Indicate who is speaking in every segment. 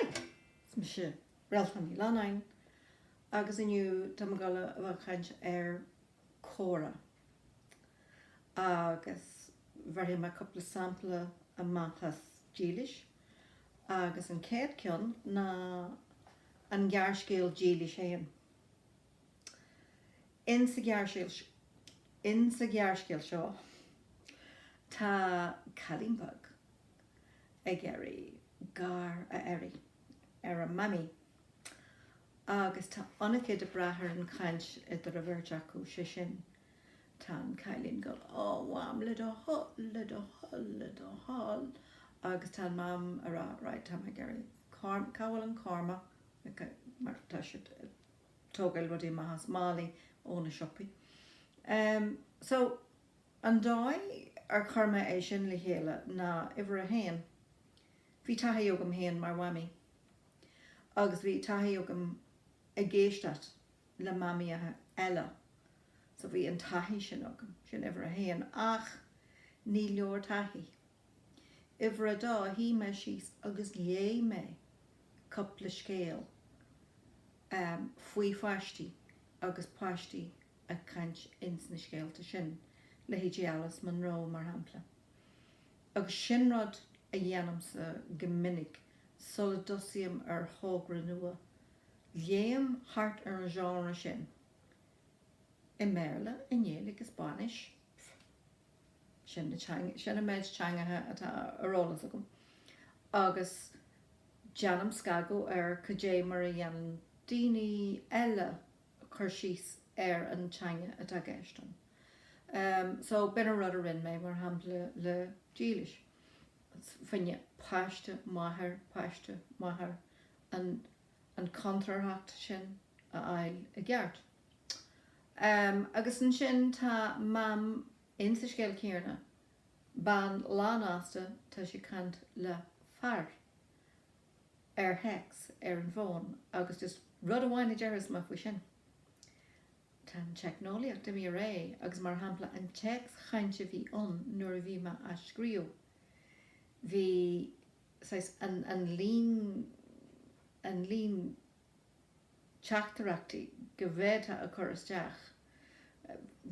Speaker 1: Haigh! Is mise Réaltán Ní Leannáin agus inniu tá mé ag dul a chaint ar comhrá agus bheirfidh mé cúpla sampla amach as Dílis agus an chéad ceann ná an gearrscéal Dílis féin. In sa ghearrscéal seo, tá cailín beag ag iarraidh gar a iarraidh ar a Mamaí agus tá an-chuid ag brath ar an chaint idir an bheirt acu, sé sin, tá an cailín ag gabháil Ó, a Mham, le do thoil, le do thoil, le do thoil agus tá an Mam ag rá, right, tá mé ag iarraidh cá bhfuil an Cormac, mar tá siad ag tógáil rudaí amach as málaí ó na siopaí. So, an dóigh ar chuir mé é sin le chéile ná, uimhir a haon, bhí taithí agam féin mar mhamaí agus bhí taithí agam ag éisteacht le mamaíocha eile. So bhí an taithí sin agam, sin uimhir a haon. Ach ní leor taithí. Uimhir a dó shuigh mé síos agus léigh mé cúpla scéal faoi pháistí agus páistí ag caint ins na scéalta sin, leithéidí Alice Munro mar shampla. Agus sin rud a dhéanaimse go minic sula dtosaím ar thogra nua, léim thart ar an genre sin, i mBéarla, i nGaeilg, i Spáinnis, pfft. Sin an méid teangacha atá ar eolas agam agus déanaim scagadh ar cad é mar a dhéanann daoine eile cur síos ar an teanga atá i gceist ann. So, b'in an rud a rinne mé, mar shampla, le Dílis féin, páiste, máthair, páiste, máthair, an chontrárthacht sin a fháil i gceart. Agus ansin tá Mam in sa scéal céanna, bean lánfhásta, tá sí ag caint le fear ar théacs ar an bhfón agus just rud amháin a déarfas mé faoi sin, Tá an teicneolaíocht imithe ar aghaidh agus mar shampla an téacs-chaint a bhí ann nuair a bhí mé á scríobh, bhí saghas an líon, an líon. teachtaireachtaí a bhféadfá a chur isteach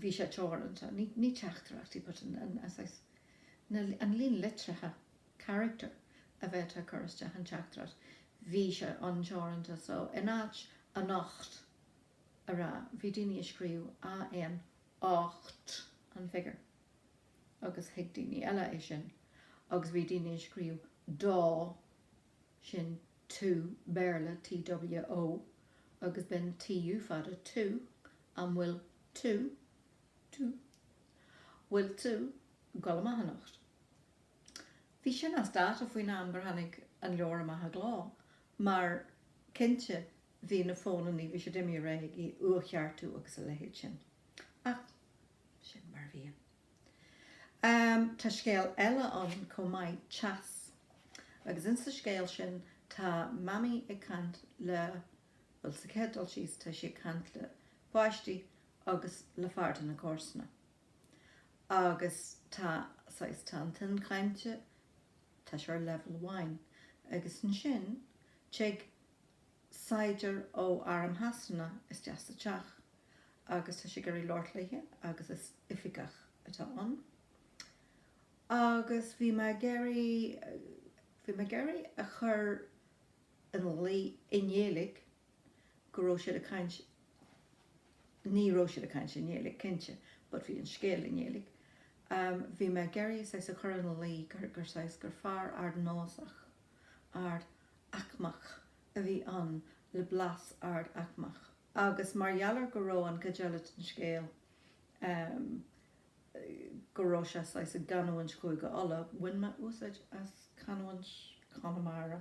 Speaker 1: bhí sé teoranta, ní teachtaireachtaí but an líon litrithe, carachtar, a bhféadfá a chur isteach i dteachtaireacht, bhí sé an-teoranta so in áit anocht a rá bhí daoine ag scríobh AN ocht an figiúr agus thuig daoine eile é sin agus bhí daoine ag scríobh dá sin to, Béarla, TWO, agus b'in TU fada tú, An bhfuil tú, tú? Bhfuil tú? Go raibh maith anocht. Bhí sin as dáta faoin am gur tháinig an leabhar amach i gcló, mar cinnte bhí na fónannaí, bhí siad ag imeacht réidh, le uathcheartú agus a leithéid sin. Ach sin mar a bhí. Tá scéal eile ann chomh maith, Teas, agus insa scéal sin tá Mamaí ag caint le, bhuel, sa chéad dul síos, tá sí ag caint le páistí agus le fear de chuid na comharsana. Agus tá, saghas, tá an tuin chainte, tá sé ar leibheal amháin. Agus ansin, téigh saighdiúir ó arm Shasana isteach sa teach agus tá sé ag iarraidh labhairt léithi agus is oifigeach atá ann agus bhí mé ag iarraidh, bhí mé ag iarraidh a chur in iúl i nGaeilge go raibh siad ag caint, ní raibh siad ag caint i nGaeilge cinnte but bhí an scéal i nGaeilge, bhí mé ag iarraidh saghas a chur in iúl gur, gur saghas, gur fear ardnósach, ard, aicmeach a bhí ann le blas ard aicmeach agus mar gheall ar go raibh an chuid eile den scéal, go raibh sé saghas i gcanúint Chúige Uladh, bhain mé úsáid as canúint Chonamara.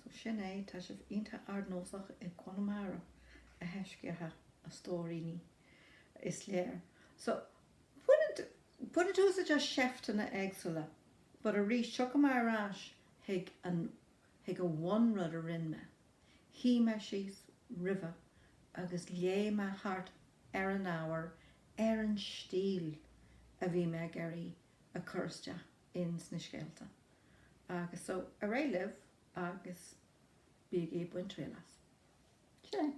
Speaker 1: So sin é, tá sibh iontach ardnósach i gConamara a thaisceanna a stóiríní, is léir. So baineann, baineann tú úsáid as seifteanna éagsúla But arís, tiocfaidh mé ar ais chuig an, chuig an bhunrud a rinn mé. Shuigh mé síos roimh ré agus léigh mé thart ar an ábhar ar an stíl a bhí mé ag iarraidh a chur isteach ins na scéalta. Agus so, ar aghaidh libh agus bígí ag baint triail as. Sin é.